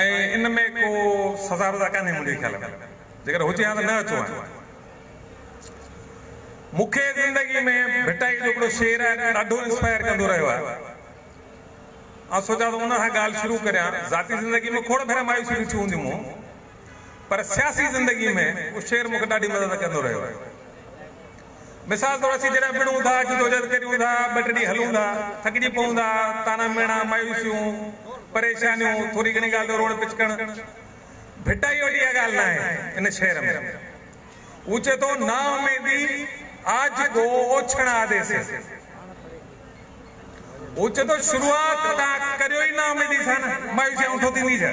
۽ ان ۾ ڪو سزا وزا ڪانهي منهنجي خيال ۾ جيڪڏهن هجي ها ته نه اچو هانء مون کي زندگي ۾ ڀٽائي جو هڪڙو شعر آهي جو ڏاڍو انسپائر ڪندو رهيو آهي آئون سوچان ٿو ان سان ڳالهه شروع ڪريان ذاتي زندگي ۾ کوڙ ڀيرا مايوسيون ڏٺيون هونديون مون پر سياسي زندگي ۾ اهو شعر مون کي ڏاڍي مدد ڪندو رهيو آهي. مثال طور اسين جڏهن وڙهون ٿا، جدوجهد ڪريون ٿا، ٻه ٽي ڏينهن هلون ٿا، ٿڪجي پئون ٿا، طعنا ميڻا، مايوسيون، پريشانيون، ٿوري گهڻي ڳالهه تي روئڻ پچڪڻ، ڀٽائيء وٽ اها ڳالهه ناهي. ان شعر ۾ هو چئي ٿو، نااميدي آج ڪو اوڇڻ آدي سي. هو چئي ٿو شروعات توهان ڪريو ئي نااميدي سان نه، مايوسي هنٺون ٿيندي ڇا؟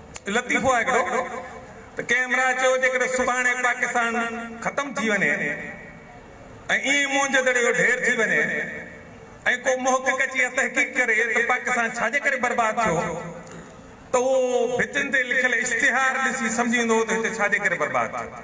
لطيفو آهي هڪڙو ته ڪنهن همراهه چيو جيڪڏهن سڀاڻي پاڪستان ختم ٿي وڃي ۽ ايئن موهنجودڙي جو ڍير ٿي وڃي ۽ ڪو محقق اچي اها تحقيق ڪري ته پاڪستان ڇاجي ڪري برباد ٿيو ته اهو ڀتين تي لکيل اشتهار ڏسي سمجهي ويندو ته هتي ڇاجي ڪري برباد ٿيو.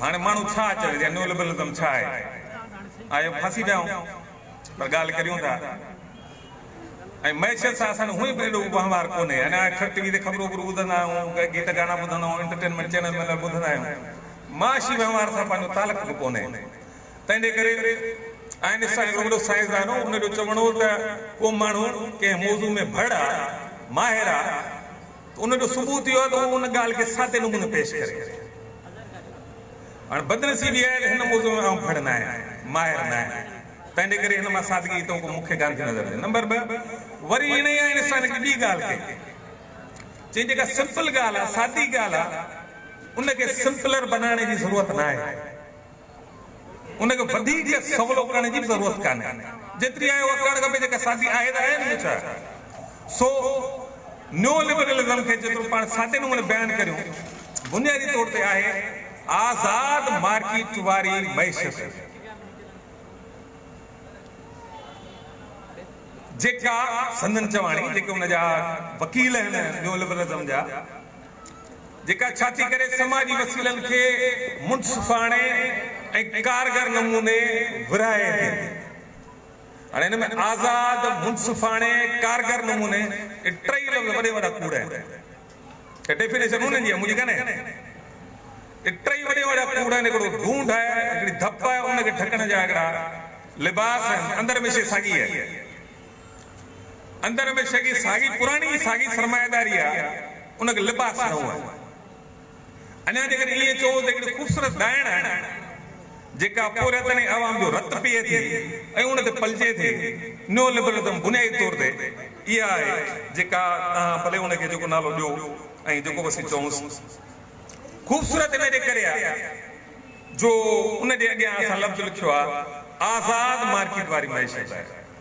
هاڻي ماڻهو ڇا چوي ته نيولبرلزم ڇا آهي؟ آهيو ڦاسي پيا آهيون پر ڳالهه ڪريون ٿا ۽ معيشت سان اسان جو هونئن به ايڏو ڪو وهنوار ڪونهي يعني اڪثر ٽي وي تي خبرون وبرون ٻڌندا آهيون ڪي گيت گانا ٻڌندا آهيون انٽرٽينمينٽ چينل وينل ٻڌندا آهيون معاشي وهنوار سان پنهنجو تعلق به ڪونهي تنهنجي ڪري آئنسٽائن هڪڙو وڏو سائنسدان هو ان جو چوڻ هو ته ڪو ماڻهو ڪنهن موضوع ۾ ڀڙ آهي ماهر آهي ته ان جو ثبوت اهو آهي ته هو ان ڳالهه کي سادي نموني پيش ڪري ٿو. هاڻي بدنصيبي اها آهي ته هن موضوع ۾ آئون ڦڙ نه آهيان، ماهر نه آهيان، تنهنجي ڪري هن مان سادگيء تئون ڪو مکيه ڳالهه ٿي نظر اچي. نمبر ٻه، وري انهيء آئنسٽائن هڪ ٻي ڳالهه ڪئي، چيائين جيڪا سمپل ڳالهه آهي، سادي ڳالهه آهي، ان کي سمپلر بنائڻ جي ضرورت نه آهي. ان کي وڌيڪ سولو ڪرڻ جي به ضرورت ڪانهي، جيتري آهي اها ڪرڻ کپي، جيڪا سادي آهي ته آهي نه ٻيو ڇا؟ سو نيو لبرلزم کي جيترو پاڻ سادي نموني بيان ڪريون، بنيادي طور تي آهي آزاد مارڪيٽ واري معيشت، جيڪا سندن چواڻي، جيڪي ان جا وڪيل آهن نيو لبرلزم جا، جيڪا ڇا ٿي ڪري سماجي وسيلن کي منصفاڻي ۽ ڪارگر نموني ورهائي ٿي. هاڻي هن ۾ آزاد، منصفاڻي، ڪارگر نموني اهي ٽئي لفظ وڏي وڏا ڪوڙ آهن. هي ڊيفينيشن انهن جي آهي منهنجي ڪانهي. اهي ٽئي وڏي وڏا ڪوڙ آهن هڪڙو ڍونڍ آهي، هڪڙي ڌپ آهي ان کي ڍڪڻ جا هڪڙا لباس آهن اندر مشي ساڳي آهي. اندر ۾ شگي ساڳي پراڻي ئي ساڳي سرمائيداري آ، ان کي لباس نئون آهي. اڃا جيڪڏهن ائين چئون ته هڪڙي خوبصورت ڏائڻ آهي، جيڪا پورهيتن ۽ عوام جو رت پيئي ٿي ۽ ان تي پلجي ٿي. نيو لبرلزم بنيادي طور تي اها آهي، جيڪا توهان ڀلي ان کي جيڪو نالو ڏيو ۽ جيڪو به اسين چئونس. خوبصورت ان جي ڪري آهي جو ان جي اڳيان اسان لفظ لکيو آهي، آزاد مارڪيٽ واري معيشت آهي.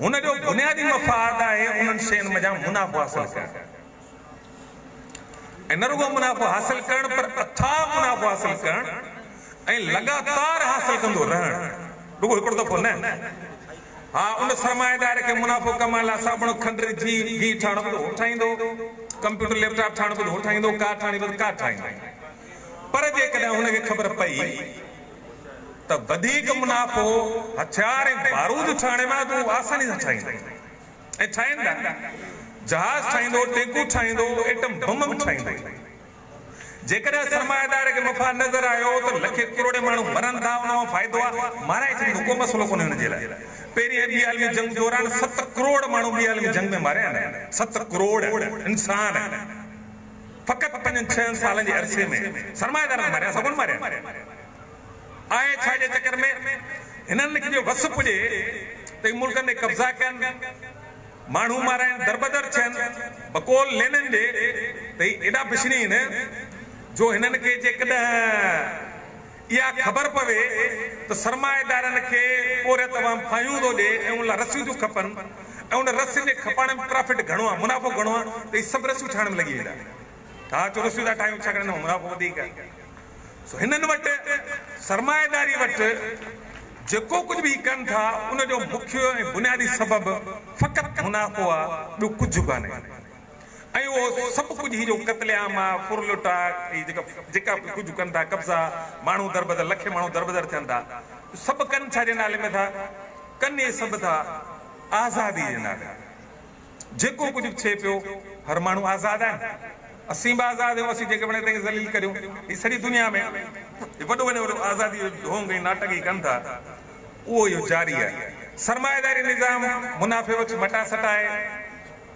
هن جو بنيادي مفاد آهي انهن شين منجهان منافعو حاصل ڪرڻ ۽ نه رڳو منافعو حاصل ڪرڻ پر اٿاهه منافعو حاصل ڪرڻ ۽ لڳاتار حاصل ڪندو رهڻ رڳو هڪڙو دفعو نه ها ان سرمائيدار کي منافعو ڪمائڻ لاء صابڻ کنڊري جي گيهه ٺاهڻ بدو هو ٺاهيندو ڪمپيوٽر ليپ ٽاپ ٺاهڻ بدو هو ٺاهيندو ڪار ٺاهڻي بدو ڪار ٺاهيندو پر جيڪڏهن هن کي خبر پئي ته وڌيڪ منافعو هٿيار ۽ بارود ٺاهڻ ۾ آهي ته هو آساني سان ٺاهيندو ۽ ٺاهين ٿا. جهاز ٺاهيندو، ٽينڪون ٺاهيندو، ايٽم بم به ٺاهيندو. جيڪڏهن سرمائيدار کي مفاد نظر آيو ته لکين ڪروڙين ماڻهو مرن ٿا ان مان فائدو آهي، مارائي ڇڏيندو ڪو مسئلو ڪونهي ان جي لاء. پهرين ۽ ٻي عالمي جنگ دوران ست ڪروڙ ماڻهو ٻي عالمي جنگ ۾ ماريا آهن. ست ڪروڙ انسان. فقط پنجن ڇهن سالن جي عرصي ۾ سرمائيدارن ماريا سگون ماريا آهي ڇا جي چڪر ۾ هنن کي جو وس پڄي ته هي ملڪن تي قبضا ڪن ماڻهو مارائن دربدر ٿين بقول لينن جي ته هي ايڏا بشنين جو هنن کي جيڪڏهن اها خبر پوي ته سرمائيدارن کي پورهيت عوام ڦاهيون ٿو ڏي ۽ ان لاء رسيون ٿيون کپن ۽ ان رسين جي کپائڻ ۾ پرافٽ گهڻو آهي، منافعو گهڻو آهي ته هي سڀ رسيون ٺاهڻ ۾ لڳي ويندا. ٺاهه ڇو رسيون ٿا ٺاهيون ڇاڪاڻ ان مان منافعو وڌيڪ آهي. سو هنن وٽ سرمائيداري وٽ جيڪو ڪجهه به هي ڪن ٿا ان جو مکيه ۽ بنيادي سبب فقط منافعو آهي ٻيو ڪجهه ڪانهي. ۽ اهو سڀ ڪجهه هي جو قتل عام آ، ڦر لٽ آ، هي جيڪا جيڪا به ڪجهه ڪن ٿا قبضا، ماڻهو دربدر، لکين ماڻهو دربدر ٿين ٿا، سڀ ڪن ڇا جي نالي ۾ ٿا؟ ڪن اهي سڀ ٿا آزادي جي نالي ۾. جيڪو ڪجهه به ٿئي پيو، هر ماڻهو آزاد آهي نه؟ اسين به آزاد آهيون، اسين جيڪي وڻي تنهن کي ذليل ڪريون. هي سڄي دنيا ۾ هي وڏو وڃي وڏو آزادي جو ڍونگ ۽ ناٽڪ هي ڪن ٿا، اهو اهو جاري آهي. سرمائيداري نظام منافعي بخش مٽاسٽ آهي.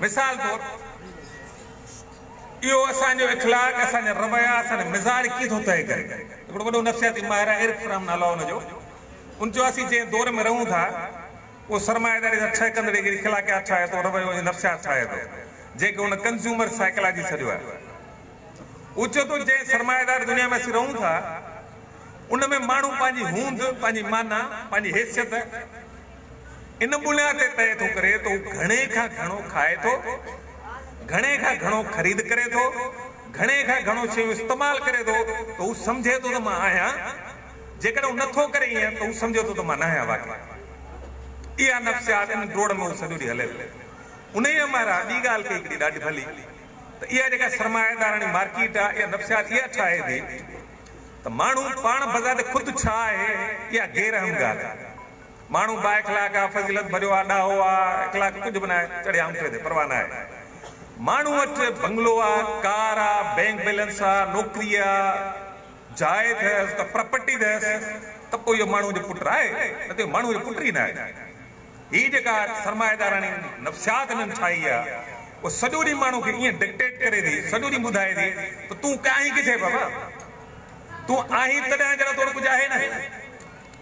مثال طور اهو اسان جو اخلاق، اسان جا رويا، اسان جو مزاج ڪي ٿو طئي ڪري. هڪڙو وڏو نفسياتي ماهر آهي ايرڪ فرام نالو آهي ان جو. ان چيو اسين جنهن دور ۾ رهون ٿا اهو سرمائيداري سان ٺهه ڪندڙ جهڙي اخلاقيات ٺاهي ٿو، رويو ۽ نفسيات ٺاهي ٿو، جنهن کي هن ڪنزيومر سائيڪالاجي سڏيو آهي. هو چئي ٿو جنهن سرمائيدار دنيا ۾ اسين رهون ٿا ان ۾ ماڻهو پنهنجي هوند، پنهنجي معنيٰ، پنهنجي حيثيت، ان بنياد تي طئي ٿو ڪري ته هو گهڻي کان گهڻو کائي ٿو، گهڻي کان گهڻو خريد ڪري ٿو، گهڻي کان گهڻو شيون استعمال ڪري ٿو ته هو سمجهي ٿو ته مان آهيان، جيڪڏهن هو نه ٿو ڪري ائين ته هو سمجهي ٿو ته مان ناهيان واقعي. اها نفسيات ان ڊوڙ ۾ هو سڄو ڏينهن هلي ٿو. انهيء مهراء ٻي ڳالهه ڪئي هڪڙي ڏاڍي ڀلي ته اها جيڪا سرمائيداراڻي مارڪيٽ آهي اها نفسيات اها ٺاهي ٿي ته ماڻهو پاڻ بذات خود ڇا آهي اها غير اهم ڳالهه آهي. ماڻهو با اخلاق آ، فضيلت ڀريو آ، ڏاهو آ، اخلاق ڪجهه به ناهي، چڙهي آڱٺي تي، پرواهه ناهي. ماڻهو وٽ بنگلو آ، ڪار آ، بئنڪ بيلنس آ، نوڪري آ، جاء اٿس، ڪا پراپرٽي اٿس ته پوء اهو ماڻهوء جو پٽ آهي، نه ته اهو ماڻهوء جو پٽ ئي ناهي. هي جيڪا سرمائيداراڻي نفسيات هنن ٺاهي آ، اها سڄو ڏينهن ماڻهو کي ائين ڊڪٽيٽ ڪري ٿي، سڄو ڏينهن ٻڌائي ٿي ته تون ڪانهين ڪٿي بابا؟ تون آهين تڏهن جڏهن تو وٽ ڪجهه آهي نه.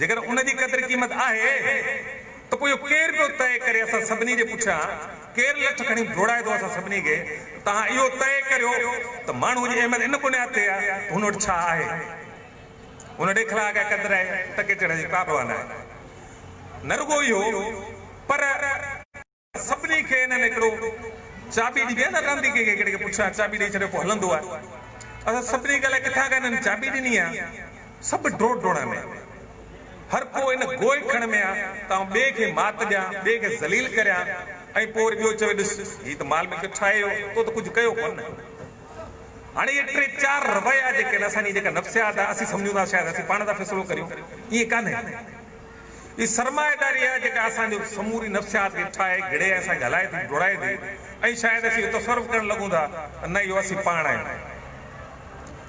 جيڪڏهن ان جي قدر قيمت آهي ته پوء اهو ڪير پيو طئي ڪري اسان سڀني جي پٺيان ڪير لٺ کڻي ڊوڙائي ٿو اسان سڀني کي توهان اهو طئي ڪريو ته ماڻهوء جي اهميت ان بنياد تي آهي ته هن وٽ ڇا آهي هن ڏيکلاء ڪا قدر آهي ٽڪي چڙهڻ جي ڪابه وانه آهي نه رڳو اهو پر سڀني کي هنن هڪڙو چاٻي ڏني آهي نه رند ئي ڪنهن کي پڇان چاٻي ڏئي ڇڏيو پوء هلندو آهي اسان سڀني کي الائي ڪٿان کان هنن چاٻي ڏني آهي سڀ ڊوڙ ڊوڙان ۾ آهن هر ڪو ان گوئي کڻ ۾ آهي ته آئون ٻئي کي مات ڏيان ٻئي کي ذليل ڪريان ۽ پوء وري ٻيو چوي ڏس هي ته مال ملڪيت ٺاهي ويو تو ته ڪجهه ڪيو ڪونه هاڻي اهي ٽي چار رويا جيڪي آهن اسان جي جيڪا نفسيات آهي اسين سمجهون ٿا شايد اسين پاڻ ٿا فيصلو ڪريون ائين ڪانهي هي سرمائيداري آهي جيڪا اسان جي سموري نفسيات کي ٺاهي گهڙي ۽ اسان کي هلائي ٿي ڊوڙائي ٿي ۽ شايد اسين اهو تصور به ڪرڻ لڳون ٿا ته نه اهو اسين پاڻ آهيون.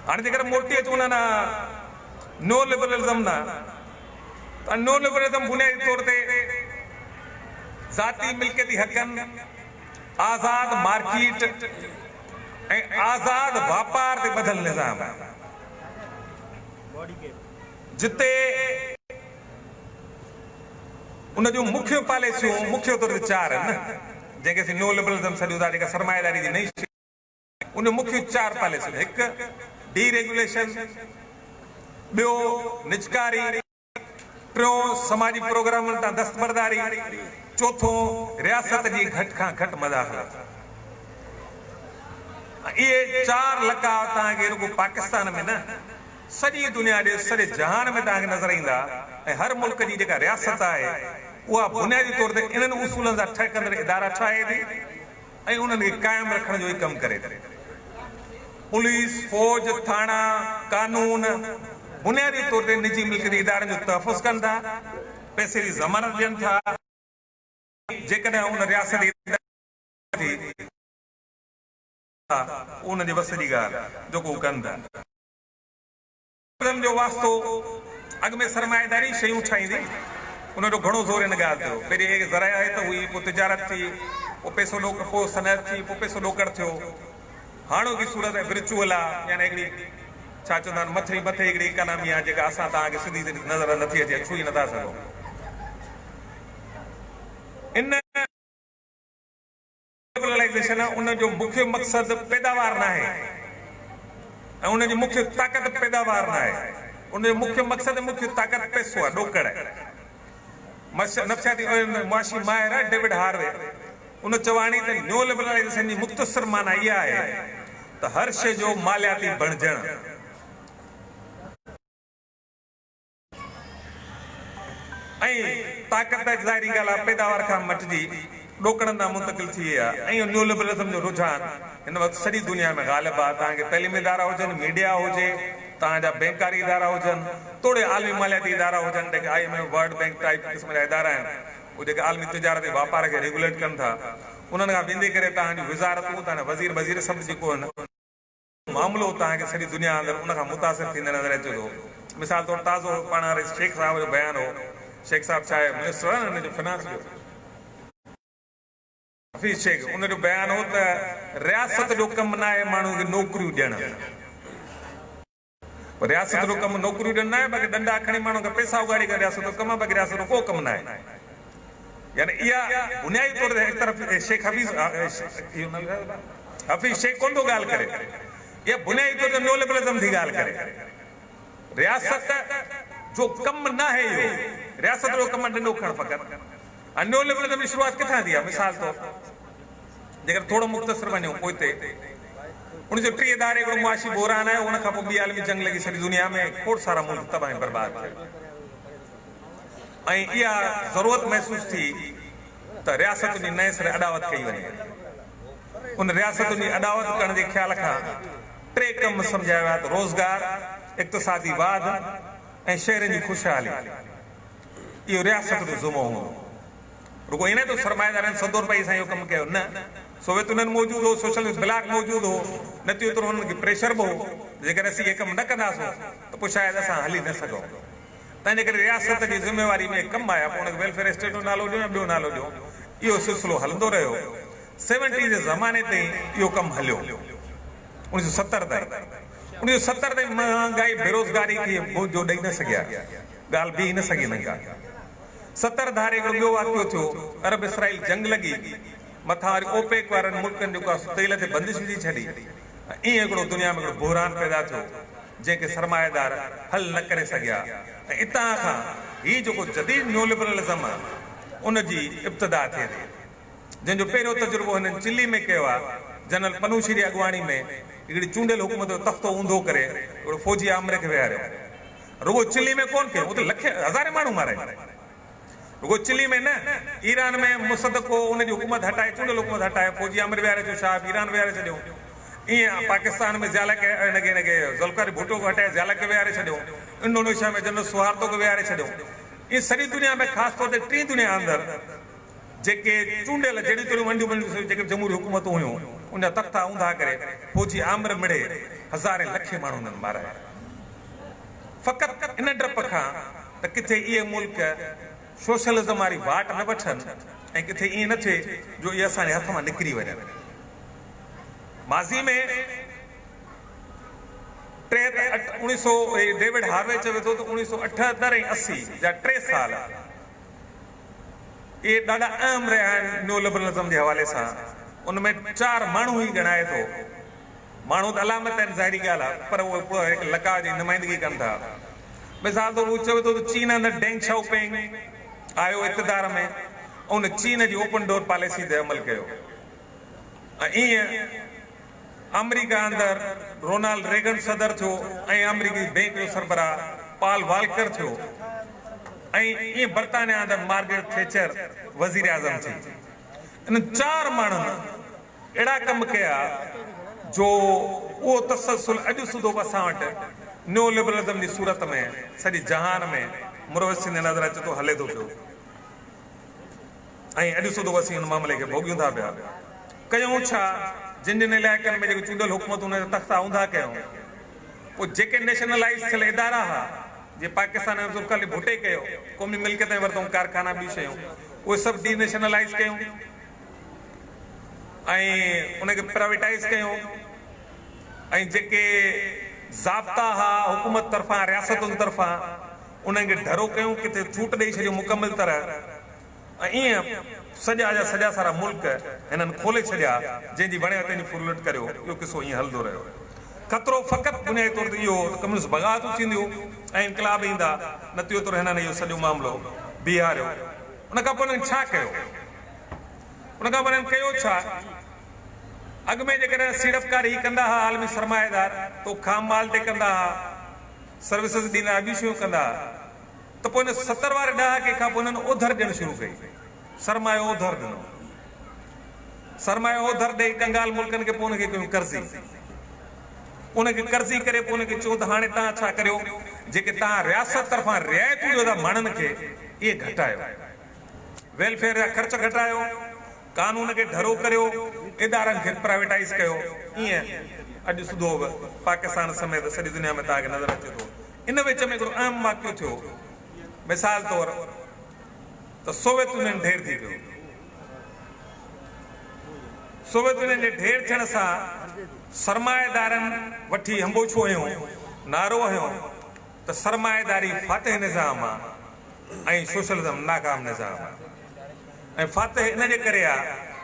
هاڻي جيڪڏهن موٽي اچون انهن نيو لبرلزم ڏانهن ته نيو لبرلزم بنيادي طور تي ذاتي ملڪيتي حقن، آزاد مارڪيٽ ۽ آزاد واپار تي ٻڌل نظام آهي. جتي ان جون مکيه پاليسيون مکيه طور تي چار آهن جنهن کي اسين نيو لبرلزم سڏيون ٿا جيڪا سرمائيداري جي نئين شڪل آهي ان جون مکيه چار پاليسيون آهن هڪ ڊي ريگيوليشن ٻيو نجڪاري ٽيون سماجي پروگرامن تان دستبرداري چوٿون رياست جي گهٽ کان گهٽ مداخلت اهي چار لقاء توهان کي رڳو پاڪستان ۾ نه سڄي دنيا ڏي سڄي جهان ۾ توهان کي نظر ايندا ۽ هر ملڪ جي جيڪا رياست آهي اها بنيادي طور تي انهن اصولن سان ٺهڪندڙ ادارا ٺاهي ٿي ۽ انهن کي قائم رکڻ جو ئي ڪم ڪري ٿي. پوليس، فوج، ٿاڻا، قانون بنيادي طور تي نجي ملڪيتي ادارن جو تحفظ ڪن ٿا، پئسي جي ضمانت ڏين ٿا ۽ جيڪڏهن ان رياست جي ادارن جي ڪم ٿي وڃي ٿا ته اهو انهن جي وس جي ڳالهه آهي جيڪو هو ڪن ٿا. علم جو واسطو اڳ ۾ سرمائيداري شيون ٺاهيندي ان جو گهڻو زور ان ڳالهه تيو پهرين هيء زراعت هئي پوء تجارت ٿي پوء پيسو ڏوڪڙ پوء صنعت ٿي پوء پيسو ڏوڪڙ ٿيو هاڻوڪي صورت ۾ ورچوئل آ يعني هڪڙي ڇا چوندا آهن مٿئين مٿئين هڪڙي اڪانامي آ جيڪا اسان توهان کي سڌي سڌي نظر نٿي اچي ڇهي نٿا سگهون ان لبرلائيزيشن ۽ ان جو مکيه مقصد پيداوار ناهي ۽ ان جي مکيه طاقت پيداوار ناهي، ان جو مکيه مقصد ۽ مکيه طاقت پئسو آهي، ڏوڪڙ آهي. نفسياتي ۽ معاشي ماهر ڊيوڊ هاروي ان چواڻي ته نيو لبرلائيزيشن جي مختصر معني اها آهي ته هر شيء جو مالياتي بڻجڻ. ۽ طاقت ته ظاهري ڳالهه آهي پيداوار کان مٽجي ڏوڪڙن ڏانهن منتقل ٿي وئي آهي ۽ اهو نيولبرلزم جو رجحان هن وقت سڄي دنيا ۾ غالب آهي توهان کي تعليمي ادارا هجن ميڊيا هجي توهان جا بئنڪاري ادارا هجن توڙي عالمي مالياتي ادارا هجن جيڪي I M F world bank type قسم جا ادارا آهن اهي جيڪي عالمي تجارت ۽ واپار کي ريگوليٽ ڪن ٿا انهن کان ويندي ڪري توهان جون وزارتون توهان جا وزير وزير سڀ جيڪو هن معاملو اتان آهي ڪي سڄي دنيا اندر ان کان متاثر ٿيندي نظر اچي ٿو. مثال طور تازو پاڻ رئيس شيخ صاحب جو بيان هو. شيخ صاحب ڇا آهي منسٽر آهي نه ان جو فنانس جو. حفيظ شيخ ان جو بيان هو ته رياست جو ڪم نه آهي ماڻهو کي نوڪريون ڏيڻ. رياست جو ڪم نوڪريون ڏيڻ نه آهي باقي ڏنڊا کڻي ماڻهو کان پيسا اوڳاڙي ڪرڻ رياست جو ڪم آهي باقي رياست جو ڪو ڪم نه آهي. يعني اها بنيادي طور تي هڪ طرف شيخ حفيظ حفيظ شيخ ڪونه ٿو ڳالهه ڪري، اها بنيادي طور تي نيولبرلزم ٿي ڳالهه ڪري. رياست جو ڪم ناهي اهو، رياست جو ڪم آهي ڏنڊو کڻڻ فقط. هاڻي نيولبرلزم جي شروعات ڪٿان ٿي آهي؟ مثال طور جيڪڏهن ٿورو مختصر وڃون پوئتي، اوڻيهه سؤ ٽيهه ڌاري هڪڙو معاشي بحران آيو، ان کانپوء ٻي عالمي جنگ لڳي سڄي دنيا ۾ کوڙ سارا ملڪ تباهه ۽ برباد ٿيا. ۽ اها ضرورت محسوس ٿي ته رياستن جي نئين سري اڏاوت ڪئي وڃي. ان رياستن جي اڏاوت ڪرڻ جي خيال کان ٽي ڪم سمجهايا ويا ته روزگار، اقتصادي واڌ ۽ شهرين جي خوشحالي. اهو رياست جو ذمو هوندو. رڳو ايئن نه ته سرمائيدارن سڌو روپئي سان اهو ڪم ڪيو، نه سوويت يونين موجود هو، سوشلسٽ بلاڪ موجود هو، نه ته ايترو هنن کي پريشر به هو ته جيڪڏهن اسين اهي ڪم نه ڪنداسون ته پوء شايد اسان هلي نه سگهون. تنهنجي ڪري رياست جي ذميواري ۾ ڪم آيا پوء ان کي ويلفيئر اسٽيٽ جو نالو ڏيو يا ٻيو نالو ڏيو اهو سلسلو هلندو رهيو سيونٽي جي زماني تائين اهو ڪم هليو اڻيهه سو ستر تائين اڻيهه سو ستر تائين مهانگائي بيروزگاري کي منهن جو ڏئي نه سگهيا ڳالهه بيهي نه سگهي هنن ڪا ستر ڌاري هڪڙو ٻيو واقعو ٿيو عرب اسرائيل جنگ لڳي مٿان وري اوپيڪ وارن ملڪن جيڪو تيل تي بندش وجهي ڇڏي ۽ ايئن هڪڙو دنيا ۾ هڪڙو بحران پيدا ٿيو جنهن کي سرمائيدار حل نه ڪري سگهيا ۽ اتان کان هي جيڪو جديد نيولبرلزم آ ان جي ابتدا ٿئي ٿي جنهن جو پهريون تجربو هنن چلي ۾ ڪيو آ جنرل پنوشي ري اڳواڻي ۾ هڪڙي چونڊيل حڪومت جو تختو اونڌو ڪري هڪڙو فوجي آمري کي ويهاريو رڳو چلي ۾ ڪون ڪيو اتي لکين هزارين ماڻهو مارائي رڳو چلي ۾ نه، ايران ۾ مصدق هو، ان جي حڪومت هٽائي، چونڊيل حڪومت هٽائي، فوجي آمر ويهاري ڇڏيو، شاهه به ايران ويهاري ڇڏيو. ايئن پاڪستان ۾ ضياء الحق کي نه کي نه کي ذوالفقار ڀٽو کي هٽائي ضياء الحق کي ويهاري ڇڏيو، انڊونيشيا ۾ جنرل سوهارتو کي ويهاري ڇڏيو. ايئن سڄي دنيا ۾ خاص طور تي ٽين دنيا اندر جيڪي چونڊيل جهڙيون تهڙيون ونڊيون بنڊيون جيڪي به جمهوري حڪومتون هيون، ان جا تختا اونڌا ڪري، فوجي آمر مڙهي، هزارين لکين ماڻهو انهن مارايا. فقط ان ڊپ کان ته ڪٿي اهي ملڪ سوشلزم واري واٽ نه وٺن ۽ ڪٿي ائين نه ٿئي جو اهي اسان جي هٿ مان نڪري وڃن. ماضي ۾ ٽي ته اٺ اوڻي سو ڊيوڊ هاروي چوي ٿو ته اوڻي سو اٺهتر ۽ اسي جا ٽي سال اهي ڏاڍا اهم رهيا آهن نيولبرلزم جي حوالي سان ان ۾ چار ماڻهو هي ڳڻائي ٿو ماڻهو ته علامت آهن ظاهري ڳالهه آهي پر اهي به هڪ لقاء جي نمائندگي ڪن ٿا. مثال طور هو چوي ٿو ته چين اندر ڊينگ شائو پينگ آيو اقتدار ۾ ۽ ان چين جي اوپن ڊور پاليسي تي عمل ڪيو ۽ ايئن آمريڪا اندر رونالڊ ريگن صدر ٿيو ۽ آمريڪي بينڪ جو سربراهه پال والڪر ٿيو ۽ ايئن برطانيا اندر مارگريٽ ٿيچر وزير اعظم ٿي انهن چار ماڻهن اهڙا ڪم ڪيا جو اهو تسلسل اڄ سوڌو به اسان وٽ نيو لبرلزم جي صورت ۾ سڄي جهان ۾ مروج ٿيندي نظر اچي ٿو هلي ٿو پيو ۽ اڄ سوڌو اسين ان معاملي کي ڀوڳيون ٿا پيا ڪيون ڇا جن جن علائقن ۾ جيڪي چونڊيل حڪومتون انهن جا تختا اونڌا ڪيون پوء جيڪي نيشنلائز ٿيل ادارا ها جي پاڪستان ۾ ذوالفقار علي ڀٽي ڪيو قومي ملڪيت ۾ ورتون ڪارخانا ٻيون شيون اهي سڀ ڊي نيشنلائز ڪيون ۽ ان کي پرائيويٽائيز ڪيو ۽ جيڪي ضابطا ھئا حڪومت طرفان رياستن طرفان انھن کي ڍرو ڪيون ڪٿي ڇوٽ ڏئي ڇڏيون مڪمل طرح ۽ ايئن سڄا جا سڄا سارا ملڪ ھنن کولي ڇڏيا جنھن جي وڻيا تنھن جي ڦرلٽ ڪريو اھو قصو ايئن ھلندو رھيو خطرو فقط بنيادي طور تي اھو ھو ته ڪميونسٽ بغاوتون ٿينديون ۽ انقلاب ايندا نتيجو طور ھنن اھو سڄو معاملو بيھاريو ان کان پوء ھنن ڇا ڪيو. ان کان پوء انهن ڪيو ڇا؟ اڳ ۾ جيڪڏهن سيڙپڪار هي ڪندا ها، عالمي سرمائيدار، ته هو خام مال تي ڪندا ها، سروسز ڏيندا ها، ٻيون شيون ڪندا ها، ته پوء ان ستر واري ڏهاڪي کان پوء انهن اوڌر ڏيڻ شروع ڪئي، سرمايو اوڌر ڏنو. سرمايو اوڌر ڏيئي ڪنگال ملڪن کي پوء ان کي ڪيون قرضي. ان کي قرضي ڪري پوء ان کي چيون ته هاڻي توهان ڇا ڪريو، جيڪي توهان رياست طرفان رعايتون ڏيو ٿا ماڻهن کي، اهي گهٽايو. ويلفيئر جا خرچ گهٽايو، قانون کي ڍرو ڪريو، ادارن کي پرائيويٽائيز ڪيو، ايئن اڄ سڌو به پاڪستان سميت سڄي دنيا ۾ توهان کي نظر اچي ٿو. ان وچ ۾ هڪڙو اهم واقعو ٿيو، مثال طور ته سوويت يونين ڍير ٿي پيو. سوويت يونين جي ڍير ٿيڻ سان سرمائيدارن وٺي هنبوڇو هنيو، نعرو هنيو، ته سرمائيداري فاتح نظام آ ۽ سوشلزم ناڪام نظام آ ۽ فاتح ان جي ڪري آ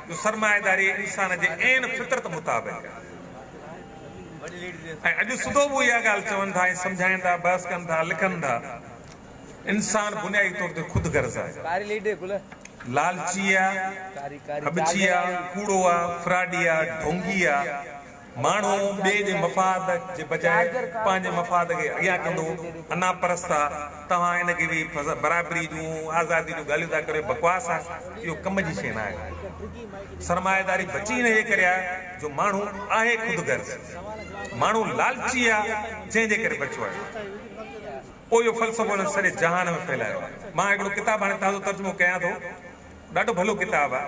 جو سرمائيداري انسان جي عين فطرت مطابق آ ۽ اڄ سڌو به اها ڳالهه چون ٿا ۽ سمجهائين ٿا بحث ڪن ٿا لکن ٿا انسان بنيادي طور تي خود غرض آ لالچي آ ڪٻڇي آ ڪوڙو آ فراڊي آ ڍونگي آ. ماڻهو ٻئي جي مفاد جي بجاء پنهنجي مفاد کي اڳيان ڪندو انا پرست آ توهان ان کي ويهي فضا برابري جون آزادي جون ڳالهيون ٿا ڪريو بڪواس آ اهو ڪم جي شي ناهي سرمائيداري بچي ان جي ڪري آ جو ماڻهو آهي خود غرض ماڻهو لالچي آ جنهن جي ڪري بچو آهي اهيو فلسفو هن سڄي جهان ۾ ڦهلايو آ مان هڪڙو ڪتاب هاڻي تازو ترجمو ڪيان ٿو ڏاڍو ڀلو ڪتاب آ.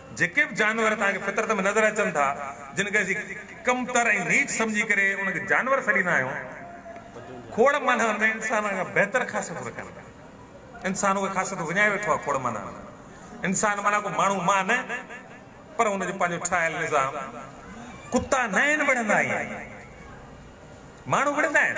جيڪي به جانور توهان کي فطرت ۾ نظر اچن ٿا، جن کي اسين ڪمتر ۽ نيچ سمجهي ڪري انهن کي جانور سڏيندا آهيون، کوڙ معنائن ۾ انسانن کان بهتر خاصيتون رکن ٿا. انسان اهي خاصيتون وڃائي ويٺو آهي کوڙ معنائن ۾. انسان معنيٰ ڪو ماڻهو مان نه، پر ان جو پنهنجو ٺاهيل نظام. ڪتا ناهن وڙهندا ائين ماڻهو وڙهندا آهن.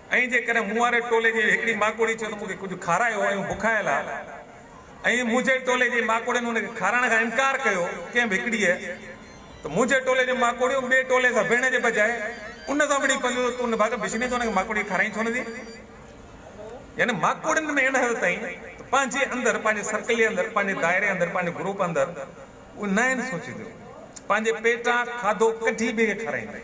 ائين جيڪڏهن مون واري ٽولي جي هڪڙي ماڪوڙي چيو ته مون کي ڪجهه کارايو ۽ هو بکايل آ ۽ منهنجي ٽولي جي ماڪوڙين هن کي کارائڻ کان انڪار ڪيو ڪنهن به هڪڙيء ته منهنجي ٽولي جون ماڪوڙيون ٻئي ٽولي سان وڙهڻ جي بجاء ان سان وڙهي پونديون ته تون نڀاڳ بشني ته هن کي ماڪوڙي کارائين ڇو نه ٿي يعني ماڪوڙين ۾ ان حد تائين ته پنهنجي اندر پنهنجي سرڪل جي اندر پنهنجي دائري اندر پنهنجي گروپ اندر اهي ناهن سوچينديون پنهنجي پيٽان کاڌو ڪڍي ٻئي کي کارائينديون.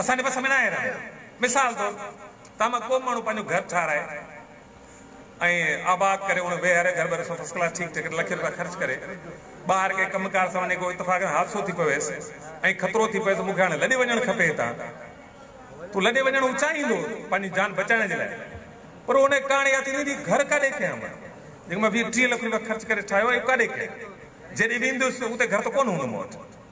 اسان جي وس ۾ ناهي رهيو. مثال طور ته اما ڪو به ماڻهو پنهنجو گهر ٺاهرائي ۽ آباد ڪري اڻ ويهاري گهر ٻر سان فسٽ ڪلاس ٺيڪ ٺڪ لکين روپيا خرچ ڪري ٻاهر ڪنهن ڪم ڪار سان وڃي ڪو اتفاقن حادثو ٿي پويس ۽ خطرو ٿي پويس مون کي هاڻي لڏي وڃڻ کپي هتان تو لڏي وڃڻ هو چاهيندو پنهنجي جان بچائڻ جي لاء پر ان کي ڪهاڻي ياد ٿيندي هي گهر ڪاڏي ڪيا اما جيڪو مان ويهه ٽيهه لک روپيا خرچ ڪري ٺاهيو اهو ڪاڏي ڪيا جيڏي وينديس اتي گهر ته ڪونه هوندو مون وٽ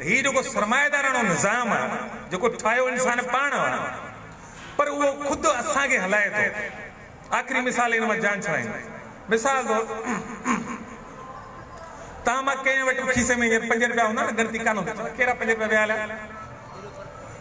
هي جيڪو سرمائيداراڻو نظام آهي، جيڪو ٺاهيو انسان پاڻ آهي، پر اهو خود اسان کي هلائي ٿو. آخري مثال ان مان جان ڇڏائيندو. مثال طور توهان مان ڪنهن وٽ به کيسي ۾ هينئر پنج رپيا هوندا نه، ڳڻتي ڪانه هوندي، چوان ڪهڙا پنج رپيا ويا هليا.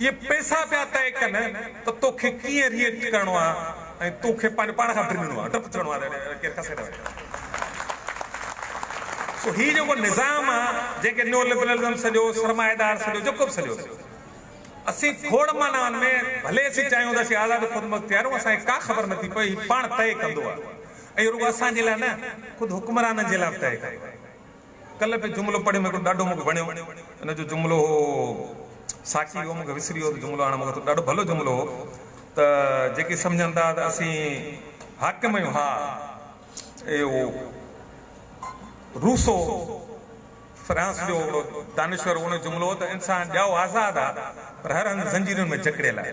اهي پئسا پيا طئي ڪن ته توکي ڪيئن ري ايڪٽ ڪرڻو آهي ۽ تو کي پنهنجو پاڻ کان ڊڄڻو آهي ڊپ ٿيڻو آهي ته ڪير کسي نه وڃي سو هي جيڪو نظام آهي جنهن کي نيو لبرلزم سڏيو سرمائيدار سڏيو جيڪو به سڏيو اسين کوڙ معنائن ۾ ڀلي اسين چاهيون ته اسين آزاد خودمختيار آهيون اسان کي ڪا خبر نه ٿي پوي هي پاڻ طئي ڪندو آهي ۽ رڳو اسان جي لاء نه خود حڪمرانن جي لاء به طئي ڪندو آهي ڪلهه به جملو پڙهي مون کي ڏاڍو مون کي وڻيو ان جو جملو هو ساقي هو مون کي وسري ويو ته جملو هاڻي مون کي ٿو ڏاڍو ڀلو جملو هو ته جيڪي سمجهن ٿا ته اسين حاڪم آهيون ها اهو روسو فرانس جو هڪڙو دانشور هو ان جو جملو هو ته انسان ڄائو آزاد آهي پر هر هنڌ زنجيرن ۾ جڪڙيل آهي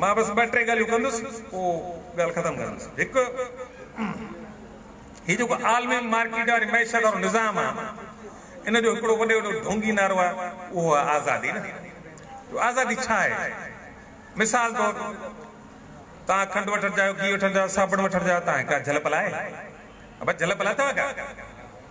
مان بس ٻه ٽي ڳالهيون ڪندس پوء ڳالهه ختم ڪندس. هڪ هي جيڪو عالمي مارڪيٽ واري معيشت وارو نظام آ ان جو هڪڙو وڏي وڏو ڍونگي نعرو آ اهو آ آزادي نه جو آزادي ڇا آهي مثال طور توهان کنڊ وٺڻ چاهيو گيهه وٺڻ چاهيو صابڻ وٺڻ چاهيو توهان کي ڪا جهلپل آهي ابا جهلپل اٿو ڪا.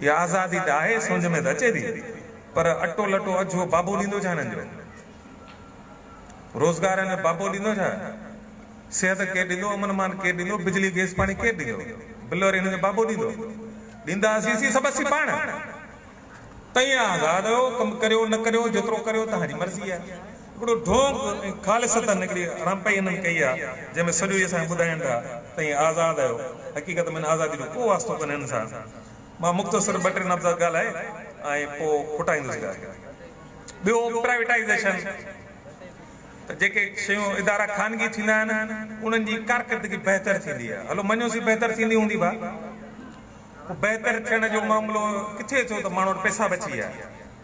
اها آزادي ته آهي سونجهه ۾ ته اچي ٿي پر اٽو لٽو اجهو بابو ڏيندو ڇا هنن جو؟ روزگار هنن جو بابو ڏيندو ڇا؟ صحت ڪير ڏيندو؟ امن امان ڪير ڏيندو؟ بجلي گيس پاڻي ڪير ڏيندو؟ بل وري هنن جو بابو ڏيندو؟ ڏيندا اسين سين سڀ اسين پاڻ. تئين آزاد آهيو ڪم ڪريو نه ڪريو جيترو ڪريو توهان جي مرضي آهي. هڪڙو ڍونڪ ۽ خالص سطح نڪري رامپائي انهن ڪئي آ، جنهن ۾ سڄو ئي اسان کي ٻڌائين ٿا ته هي آزاد آهيو، حقيقت ۾ هن آزادي جو ڪو واسطو ڪونهي هن سان. مان مختصر ٻه ٽي لفظ ڳالهائي ۽ پوء کوٽائيندس ڳالهه. ٻيو پرائيويٽائيزيشن ته جيڪي شيون ادارا خانگي ٿيندا آهن انهن جي ڪارڪردگي بهتر ٿيندي آهي، هلو مڃيوسين بهتر ٿيندي هوندي ڀا، پوء بهتر ٿيڻ جو معاملو ڪٿي ٿيو ته ماڻهو وٽ پئسا بچي ويا.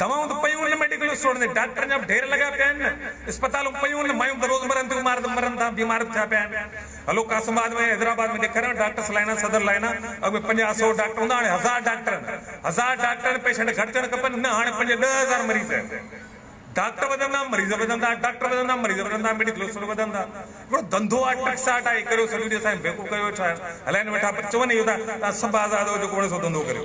دوائون ته پيون هن ميڊيڪل اسٽور تي ڊاڪٽرن جا به ڍير لڳا پيا آهن نه اسپتالون پيون هن مايون ته روز مرن ٿيون مارت مرن ٿا بيمار به ٿيا پيا آهن هلو قاسم آباد ۾ حيدرآباد ۾ ڏيکاريان ڊاڪٽرس لائنا صدر لائنا اڳ ۾ پنجاهه سو ڊاڪٽر هوندا هاڻي هزار ڊاڪٽرن هزار ڊاڪٽرن پيشنٽ گهٽجڻ کپن نه هاڻي پنج ڏهه هزار مريض آهن ڊاڪٽر وڌندا مريض وڌندا ڊاڪٽر وڌندا مريض وڌندا ميڊيڪل اسٽور وڌندا هڪڙو ڌنڌو آهي ٽڪساٽ آهي هي ڪريو سڄو ڏينهن اسان کي بيوقوف ڪيو ويٺا آهيو هلائين ويٺا پر چون اهو ته توهان سڀ آزاد آهيو جيڪو وڻي سو ڌنڌو ڪريو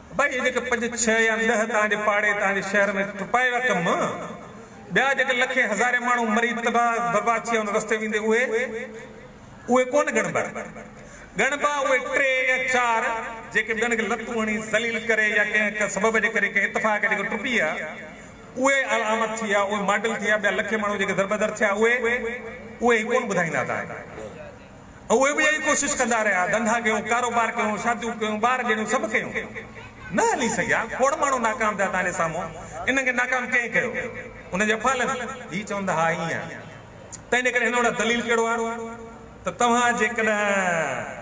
باقي جيڪي پنج ڇهه يا ڏهه توهان جي پاڙي، توهان جي شهر ۾ ٽپائي رقم، ٻيا جيڪي لکين هزارين ماڻهو مري تباهه برباد ٿي ويا ان رستي ويندي اهي، اهي ڪونه ڳڻبا. ڳڻبا اهي ٽي يا چار جيڪي ٻين کي لتون هڻي ذليل ڪري يا ڪنهن ڪنهن سبب جي ڪري ڪنهن اتفاق جي ڪري ٽپي ويا، اهي علامت ٿي ويا، اهي ماڊل ٿي ويا، ٻيا لکين ماڻهو جيڪي دربدر ٿيا اهي، اهي ڪونه ٻڌائيندا توهان کي. اهي به اها ئي ڪوشش ڪندا رهيا، ڌنڌا ڪيون، ڪاروبار ڪيون، شاديون ڪيون، ٻار ڄڻيون، سڀ ڪيون. نه هلي سگهيا. کوڙ ماڻهو ناڪام ٿيا تهان جي سامهون. انهن کي ناڪام ڪنهن ڪيو؟ انهن جي افعالن. هي چوندا ها ائين آهي. ته ان ڪري هن وٽ دليل ڪهڙو آهي ته توهان جيڪڏهن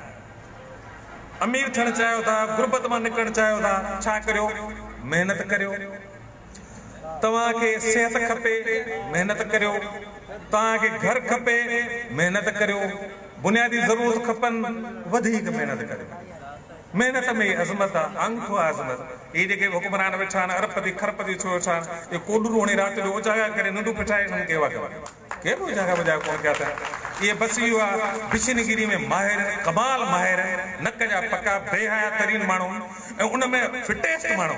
امير ٿيڻ چاهيو ٿا، غربت مان نڪرڻ چاهيو ٿا، ڇا ڪريو؟ محنت ڪريو. توهان کي صحت کپي محنت ڪريو، توهان کي گهر کپي محنت ڪريو، بنيادي ضرورت کپن وڌيڪ محنت ڪريو. محنت ۾ ئي عظمت آ، آڱٺو آ عظمت. هي جيڪي به حڪمران ويٺا آهن اربپتي کرپتي ٿيو ويٺا آهن اهي ڪوڏرو هڻي رات جو اجاڳا ڪري ننڊون ڦٽائي انهن کي اهو ڪيو ڪي به اجاڳا وجاڳا ڪونه ڪيا اٿن اهي بس اهو آ بشن گيري ۾ ماهر ڪمال ماهر نڪ جا پڪا بي حيا ترين ماڻهو ۽ ان ۾ فٽيسٽ ماڻهو.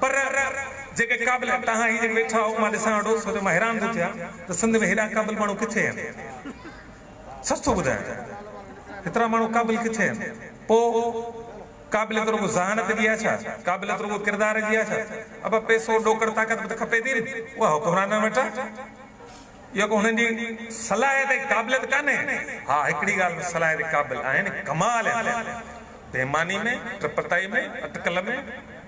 پر جيڪي قابل آهن توهان هي جيڪي ويٺا آهو مان ڏسان ويٺو سو جو مان حيران ٿو ٿيان ته سنڌ ۾ هيڏا قابل ماڻهو ڪٿي آهن سچ ٿو ٻڌايان هيترا ماڻهو قابل ڪٿي آهن پو قابليت رڳو ذهانت جي آهي ڇا قابليت رڳو ڪردار جي آهي ڇا ابا پئسو ڏوڪڙ طاقت به ته کپي ٿي نه اها حڪمرانن وٽ آهي اها ڪو هنن جي صلاحيت ۽ قابليت ڪانهي ها هڪڙي ڳالهه ۾ صلاحيت قابل آهن ڪمال آهن بيماني ۾ ٽپتائي ۾ اٽڪل ۾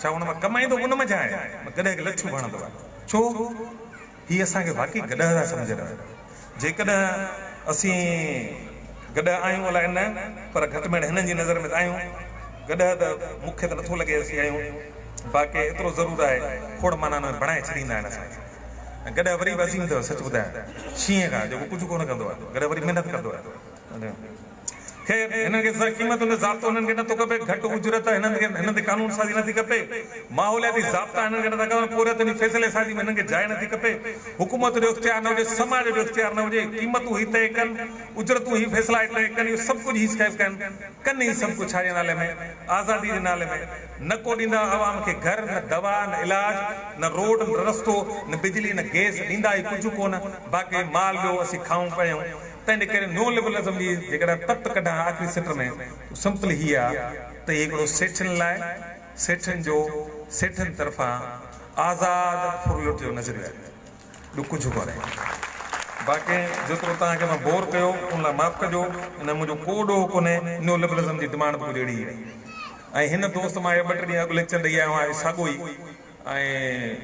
ڇا هن مان ڪم ايندو؟ ان منجهان آهي مان گڏهه کي لڇو ڀاڻندو آهي. ڇو؟ هي اسان کي واقعي گڏهه ٿا سمجهن. جيڪڏهن اسين گڏهه آهيون الاء نه پر گهٽ ميڻ هنن جي نظر ۾ ته آهيون. گڏهه ته مون کي ته نٿو لڳي اسين آهيون. باقي ايترو ضرور آهي کوڙ مانائن ۾ بڻائي ڇڏيندا آهن اسان کي. ۽ گڏهه وري به عظيم اٿو سچ ٻڌايان شينهن کان جيڪو ڪجهه ڪونه ڪندو آهي. گڏهه وري محنت ڪندو آهي. خير، هنن کي سزا قيمت هوندي ضابطو هنن کي نٿو کپي، گهٽ اجرت هنن کي هنن تي قانون سازي نٿي کپي، ماحولياتي ضابطا هنن کي نٿا کپن، پورهيت جي فيصلي سازي ۾ هنن کي جاء نٿي کپي، حڪومت جو اختيار نه هجي، سماج جو اختيار نه هجي، قيمتون هي طئي ڪن، اجرتون هي فيصلا هي طئي ڪن، اهو سڀ ڪجهه هي سکائي ڪن، ڪن هي سڀ ڪجهه ڇاجي نالي ۾؟ آزادي جي نالي ۾! نه ڪو ڏيندا عوام کي گهر، نه دوا، نه علاج، نه روڊ، نه رستو، نه بجلي، نه گئس، ڏيندا هي ڪجهه ڪونه، باقي مال ڏيو اسين کائون پيئون، تنهن ڪري نو لبرلزم جي جيڪڏهن تت ڪڍان ها آخري سٽ ۾ ته سمپل هيء آ ته هي هڪڙو سيٺين لاء سيٺين جو سيٺين طرفان آزاد ڦرلٽ جو نظريو آهي ٻيو ڪجهه ڪونهي. باقي جيترو توهان کي مان بور ڪيو ان لاء معاف ڪجو ان ۾ منهنجو ڪو ڏوهه ڪونهي نيو لبرلزم جي ڊمانڊ به ڪجهه اهڙي ئي هئي ۽ هن دوست مان اهي ٻه ٽي ڏينهن اڳ ليڪچر ڏئي آيو آهيان ساڳو ئي ۽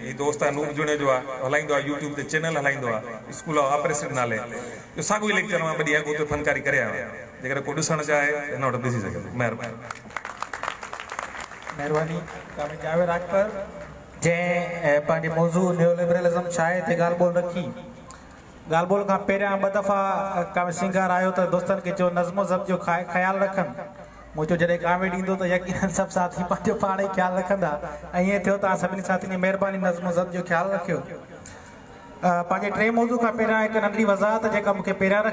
هي دوست انوپ جوڻيجو آ هلائيندو آ يوٽيوب تي چينل هلائيندو آ اسڪول آف آپريسڊ نالي جو ساڳيو ئي ليڪچر مان ٻه ڏينهن اڳ اتي فنڪاري ڪري آيو آهيان جيڪڏهن ڪو ڏسڻ چاهي ته هن وٽ ڏسي سگهي ٿو مهرباني. مهرباني ڪامريڊ جاويد راڄپر جنهن پنهنجي موضوع نيو لبرلزم ڇاهي تي ڳالهه ٻولهه رکي ڳالهه ٻولهه کان پهريان ٻه دفعا ڪامريڊ سينگار آيو ته دوستن کي چيو نظم و ضبط جو خيال رکن مون چيو جڏهن ڪاميڊ ايندو ته يقينن سڀ ساٿي پنهنجو پاڻ ئي خيال رکندا ۽ ائين ٿيو توهان سڀني ساٿين جي مهرباني نظم و ضبط جو خيال رکيو پنهنجي ٽئين موضوع کان پهريان هڪ ننڍڙي وضاحت جيڪا مون کي پهريان رکڻ